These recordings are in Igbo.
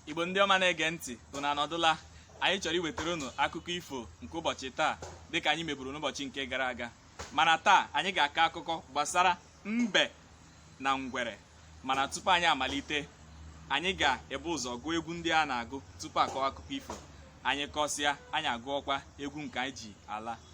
igbo ndị ọma na-ege ntị unu anọdụla anyị chọrọ iwetara unu akụkọ ifo nke ụbọchị taa dịka anyị meburu n'ụbọchị nke gara aga mana taa anyị ga-akọ akụkọ gbasara mbe na ngwere mana tupu anyị amalite anyị ga-ebu ụzọ gụọ egwu ndị a na-agụ tupu akọwa akụkọ ifo anyị kọsịa anyị agụọkwa egwu nke anyị ji ala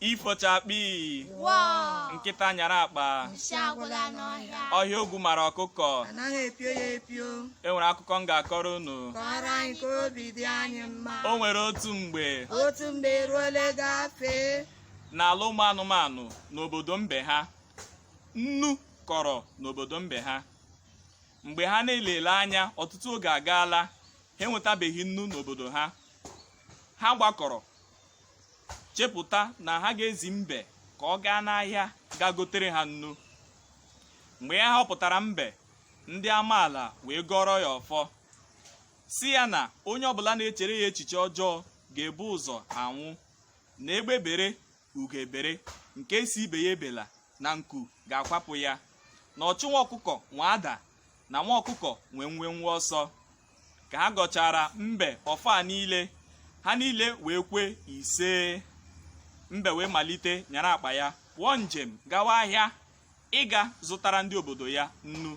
ifo chakpii Wọọ! nkịta nyara akpa Nshi agwụla n'ọhịa. ọhịa ogwu mara ọkụkọ anaghị epio ya epio e nwere akụkọ m ga-akọrọ unu kọrọ anyị ka obi dị anyị mma o nwere otu mgbe otu mgbe eruole gafee n'ala ụmụ anụmanụ n'obodo mbe ha nnu kọrọ n'obodo mbe ha mgbe ha na-elele anya ọtụtụ oge agaala ha enwetabeghị nnu n'obodo ha ha gbakọrọ chepụta na ha ga-ezi mbe ka ọ gaa n'ahịa ga gotere ha nnu mgbe a họpụtara mbe ndị amaala wee gọọrọ ya ọfọ sị ya na onye ọbụla na-echere ya echiche ọjọọ ga-ebu ụzọ anwụ na egbe bere ugo bere nke sị ibe ya ebela na nku ga-akwapụ ya na ọchụ nwa ọkụkọ nwe ada na nwa ọkụkọ nwe mwemwe ọsọ ka ha gọchaara mbe ọfọ a niile ha niile wee kwe isee mbe wee malite nyara akpa ya pụọ njem gawa ahịa ịga zụtara ndị obodo ya nnu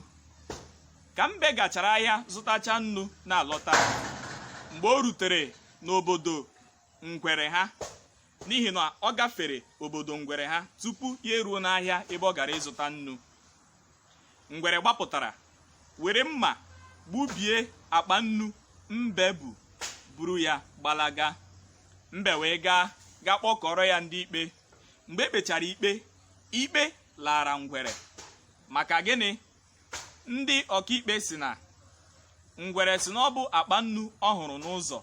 ka mbe gachara ahịa zụtacha nnu na-alọta mgbe o rutere n'obodo ngwere ha n'ihi na ọ gafere obodo ngwere ha tupu ya eruo n'ahịa ebe ọ gara ịzụta nnu ngwere gbapụtara were mma gbubie akpa nnu mbe bu buru ya gbalaga mbe wee gaa ga kpọkọọrọ ya ndị ikpe mgbe e kpechara ikpe ikpe laara ngwere maka gịnị ndị ọkaikpe sị na ngwere sị na ọ bụ akpa nnu ọ hụrụ n'ụzọ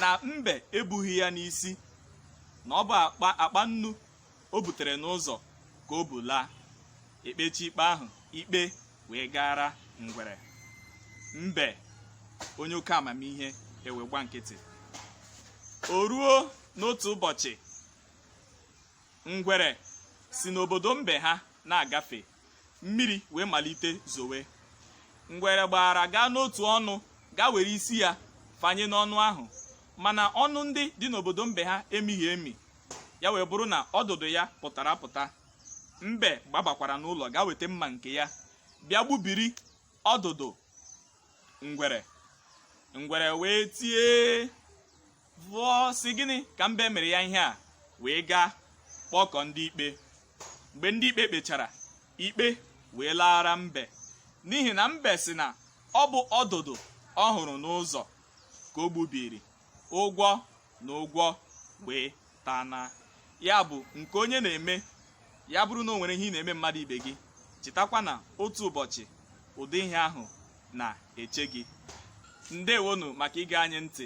na mbe ebughị ya n'isi na ọ bụ akpa akpa nnu o butere n'ụzọ ka o bu laa e kpechaa ikpe ahụ ikpe wee gaara ngwere mbe onye oke amamihe ewee gba nkịtị o ruo n'otu ụbọchị ngwere si n'obodo mbe ha na-agafe mmiri wee malite zowe ngwere gbara gaa n'otu ọnụ gaa were isi ya fanye n'ọnụ ahụ mana ọnụ ndị dị n'obodo mbe ha emighị emi ya wee bụrụ na ọdụdụ ya pụtara apụta mbe gbabakwara n'ụlọ gaa weta mma nke ya bịa gbubiri ọdụdụ ngwere ngwere wee tie vụọ sị gịnị ka mbe mere ya ihe a wee gaa kpọkọ ndị ikpe mgbe ndị ikpe kpechara ikpe wee laara mbe n'ihi na mbe sị na ọ bụ ọdụdụ ọ hụrụ n'ụzọ ka o gbubiri ụgwọ na ụgwọ wee taa na ya bụ nke onye na-eme ya bụrụ na o nwere ihe ị na-eme mmadụ ibe gị chetakwa na otu ụbọchị ụdị ihe ahụ na-eche gị ndewonu maka ige anyị ntị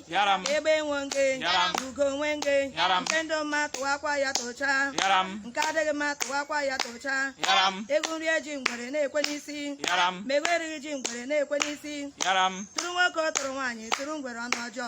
egbe nwe nge ugo nwe nge nke dị mma tụwakwa ya tụcha nke adịghị mma tụwakwa ya tụcha ewu rie ji ngwere na-ekwe n'isi ma ewu erighị ji ngwere na-ekwe n'isi tụrụ nwoke tụrụ nwaanyị tụrụ ngwere ọnụ ọjọọ